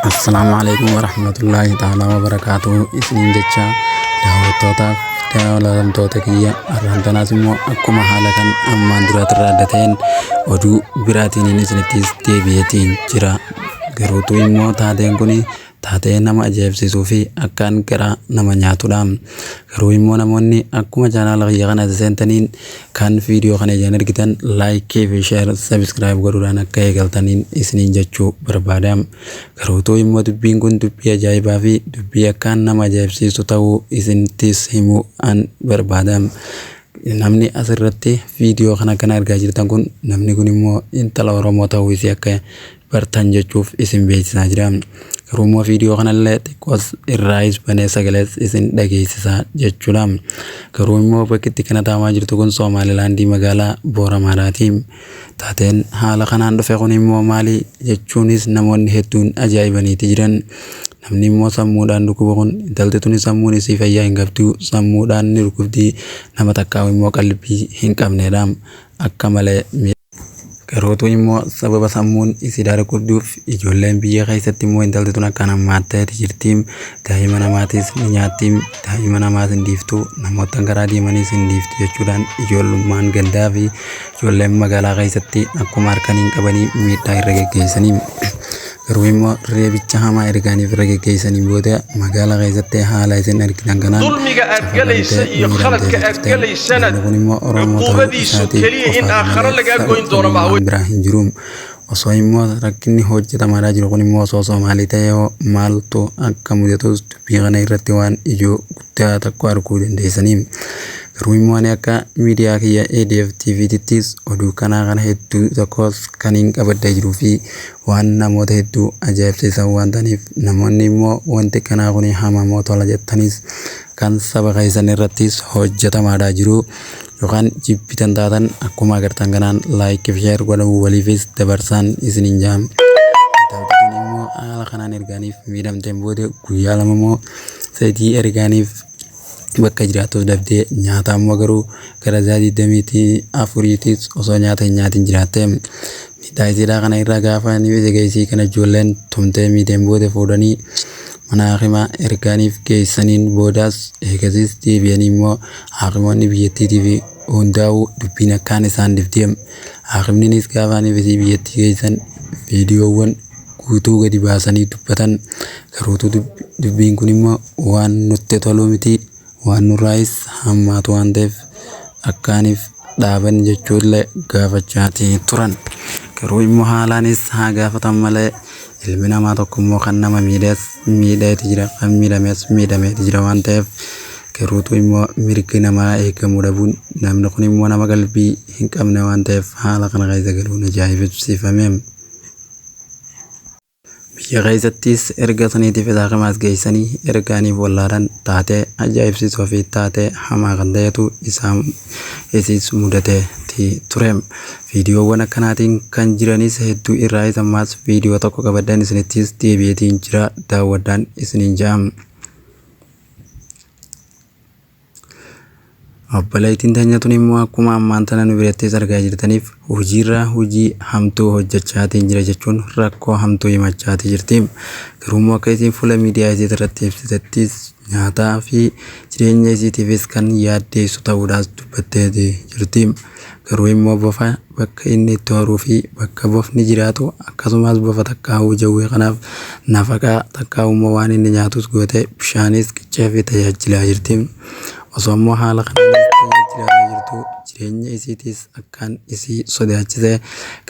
Assalaamu alaikum warahmatullahi ta'ala wabarakaatu isiniin jecha daawwattootaaf daawwatamtoota kiyya arraan tanaas immoo akkuma haala kan ammaan duraatirraa adda ta'een oduu biraatiin isinittis deebi'eetiin jira garuutu immoo taateen kun taatee nama ajaa'ibsiisuu fi akkaan garaa nama nyaatudha garuu immoo namoonni akkuma chaanaala kiyya kana seentaniin Kan viidiyoo kana ijaan argitan laayikii fi sheer sabiskiraayib godhuudhaan akka eegaltaniin isiniin jechuu barbaada. Garuu utuu immoo dubbiin kun dubbii ajaa'ibaa fi dubbii akkaan nama ajaa'ibsiistu ta'uu isinittis himuu an barbaada. Namni asirratti viidiyoo kana kan argaa jirtan kun namni kun immoo intala Oromoo ta'uu isii akka bartan jechuuf isin beeksisaa jira. Garuu immoo viidiyoo kanallee xiqqoos irraayis banee sagalees isin dhageessisaa jechuudha. Garuu immoo bakki itti kana taamaa jirtu kun Soomaalilaandii magaalaa Booramaadhaati. Taateen haala kanaan dhufe kun immoo maali jechuunis namoonni hedduun ajaa'ibaniiti jiran. Namni immoo sammuudhaan dhukkuba kun intalti tuni sammuun isii fayyaa hin qabdu sammuudhaan ni dhukkubdi nama takkaa'u immoo qalbii hin qabneedha akka malee. Garootu immoo sababa sammuun isii daargudduuf ijoolleen biyya keessatti immoo intalti tun akkaan hammaatteeti jirti. Daa'ima namaatis ni nyaatti, daa'ima namaas hin dhiiftu, namoottan karaa deemanis hin dhiiftu jechuudhaan ijoollummaan gandaa fi ijoolleen magaalaa keessatti akkuma harkanii hin qabanii miidhaa irra geggeessanii. Garuu immoo reebicha hamaa ergaaniif irra geggeessaniin booda magaalaa keessatti haala isin argitan kanaan dulmiga aad safaramtee galaysa iyo miidhamtee khaladka aad turteen. galaysana Namni kun immoo Oromoo ta'uu cuquubadiisu isaatiin keliya in qofaadha aakhara malee lagaa goyn doono sababni maaha waan biraa hin jiru. Osoo immoo rakkinni hojjetamaadhaa jiru kun immoo osoo Soomaalii ta'ee hoo maaltu akka mudatus dubbii kana irratti waan ijoo guddaa tokko arguu dandeessanii. Garuu immoo ani akka miidiyaa kiyya ADF TV tittis oduu kanaa kana hedduu tokkos kan hin qabadda jiruu fi Waan namoota hedduu ajaa'ibsiisan waan ta'aniif, namoonni immoo wanti akkanaa kun hamaa moo tola jettaniis kan saba keessan irrattis hojjetamaadhaa jiru yookaan jibbitan taatan akkuma agartan kanaan like fi share godhamu waliifis dabarsaan isiniin jaam. Intaltituun immoo haala kanaan ergaaniif miidhamteen booda guyyaa lama moo sadii ergaaniif bakka jiraattuuf dhabdee nyaata ammoo garuu gara isaa 24 tiis osoo nyaata hin nyaatin jiraatte. Miidhaa isiidhaa kana irraa gaafa ni beete geessii kana ijoolleen tumtee miidheen booda fuudhanii mana haakimaa ergaaniif geessaniin boodaas eegasiis deebi'anii immoo haakimoonni biyyattiitii fi hundaa'uu dubbiin akkaan isaan dhibdeem haakimninis gaafa ni bisii biyyattii geessan viidiyoowwan guutuu gadi baasanii dubbatan garuutu dubbiin kun immoo waan nutti toluu miti waan nurraayis hammaatu waan ta'eef akkaaniif dhaabanni jechuullee gaafachaatii turan. Garuu immoo haalaanis haa gaafatan malee ilmi namaa tokko immoo kan nama miidhees miidheeti jira kan miidhamees miidhameeti jira waan ta'eef garuutu immoo mirgi namaa eegamuu dhabuun namni kun immoo nama qalbii hin qabne waan ta'eef haala kana keessa galuun ajaa'ibsiifame. Biyya keessattis erga saniitiif isaa kamaas geessanii ergaaniif wallaalan taatee ajaa'ibsiisoo fi taatee hamaa kan ta'etu isaa isiis mudateeti ture. Viidiyoowwan akkanaatiin kan jiranis hedduu irraa isa ammaas viidiyoo tokko qabadhan isinittis deebi'eetiin jira daawwadhaan isiniin ja'a. Obboleettiin teenya tun immoo akkuma ammaan tana nu birattis argaa jirtaniif hojiirraa hojii hamtuu hojjechaatiin jira jechuun rakkoo hamtuu himachaatii jirti. Garuu immoo akka isiin fuula miidiyaa isii irratti ibsitettis nyaataa fi jireenya isiitiifis kan yaaddeessu ta'uudhaas dubbattee jirti. Garuu immoo bofa bakka inni itti horuu fi bakka bofni jiraatu akkasumaas bofa takkaahuu jawwee kanaaf nafaqaa takkaahuu immoo waan inni nyaatus goote bishaanis qiccee fi tajaajilaa jirti. Osoo immoo haala kanaanis tajaajilaa jirtu jireenya isiitis akkaan isii sodaachise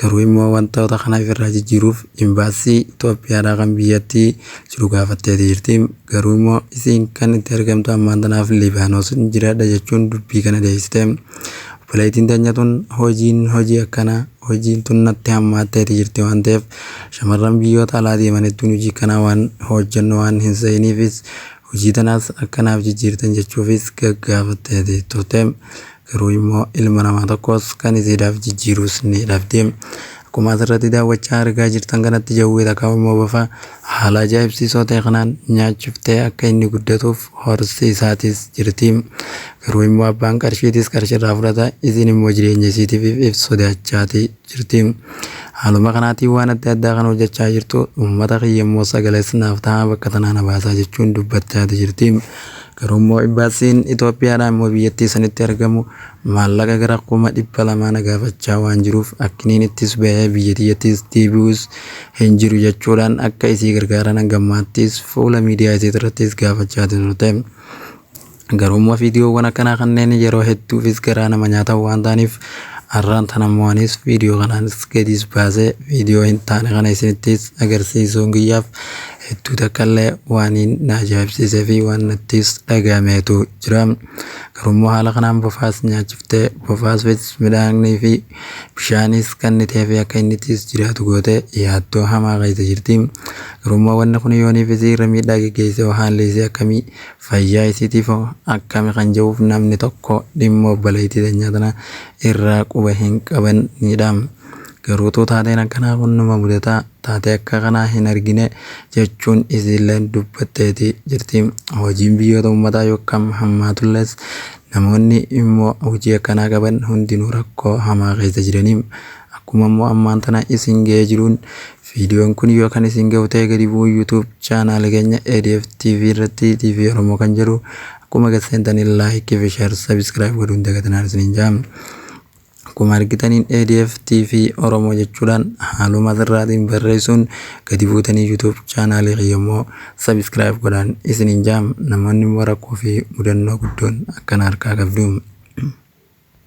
garuu immoo wantoota kana ifirraa jijjiiruuf imbaasii Itoophiyaadhaa kan biyyattii jiru gaafatteeti jirti. Garuu immoo isiin kan itti argamtu ammaan tanaaf Libaanos jiraadha jechuun dubbii kana deeysite. Obboleeytiin teenya tun hojiin hojii akkanaa hojiin tun natti hammaatteeti jirti waan ta'eef shamarran biyyoota alaa deeman hedduun hojii kanaa waan hojjannu waan hin seeyiniifis hojii tanaas akka naaf jijjiirtan jechuufis gaggaafatteeti turte. garuu immoo ilma namaa tokkos kan isiidhaaf jijjiiruus ni dhabde. Akkuma asirratti daawwachaa argaa jirtan kanatti jawwee takka immoo bofa haala ajaa'ibsiisoo ta'e kanaan nyaachiftee akka inni guddatuuf horsiisaatis jirti. Garuu immoo abbaan qarshiitis qarshiirraa fudhata isiin immoo jireenya isiitiif if sodaachaati jirti. Haaluma kanaatiin waan adda addaa kan hojjechaa jirtu uummata kiyya immoo sagalees naaf ta'a bakka tanaa na baasaa jechuun dubbachaati jirti. Garuummoo Imbaasiin Itoophiyaadhaa immoo biyyattii sanitti argamu maallaqa gara kuma dhibba lamaa na gaafachaa waan jiruuf akkiniin ittis bahee biyya tiyyattis deebi'us hin jiru jechuudhaan akka isii gargaaran hangammaattis fuula miidiyaa isiitirrattis gaafachaa turte. Garuummoo viidiyoowwan akkanaa kanneen yeroo hedduufis garaa nama nyaatan waan ta'aniif har'aan tanammoo anis viidiyoo kanaanis gadiis baasee viidiyoo hin taane kana isinittis agarsiisuun kiyyaaf hedduu takkaallee waaniin na ajaa'ibsiisee fi waan nattis dhagahameetu jira. Garuu immoo haala kanaan bofaas nyaachiftee bofaas midhaanii fi bishaanis kannitee fi akka innittis jiraatu goote yaaddoo hamaa keessa jirti. Garuu immoo wanni kun yooniif isii irra miidhaa geggeessee hoo haalli isii akkamii fayyaa isiitiif hoo akkami kan jedhuuf namni tokko dhimma obboleettii teenyaa tana irraa quba hin qabanidha. Garuutuu taateen akkanaa kun numa mudataa taatee akka kanaa hin argine jechuun isiilleen dubbatteeti jirti. Hojiin biyyoota uummataa yokkam hammaatullees namoonni immoo hojii akkanaa qaban hundinuu rakkoo hamaa keessa jirani. Akkuma immoo ammaan tana isin ga'ee jiruun viidiyoon kun yoo kan isin ga'u ta'e gadi bu'uu YouTube chaanaala keenya ADF TV irratti TV Oromoo kan jedhu akkuma gad seentanii like fi share subscribe godhuun dagatinaan isiniin jaam. Akkuma argitaniin ADF TV Oromoo jechuudhaan haaluma asirraatiin barreessuun gadi buutanii YouTube chaanaalii kiyya immoo subscribe godhaan isiniin jaam namoonni immoo rakkoo fi mudannoo guddoon akkana harkaa qabdu.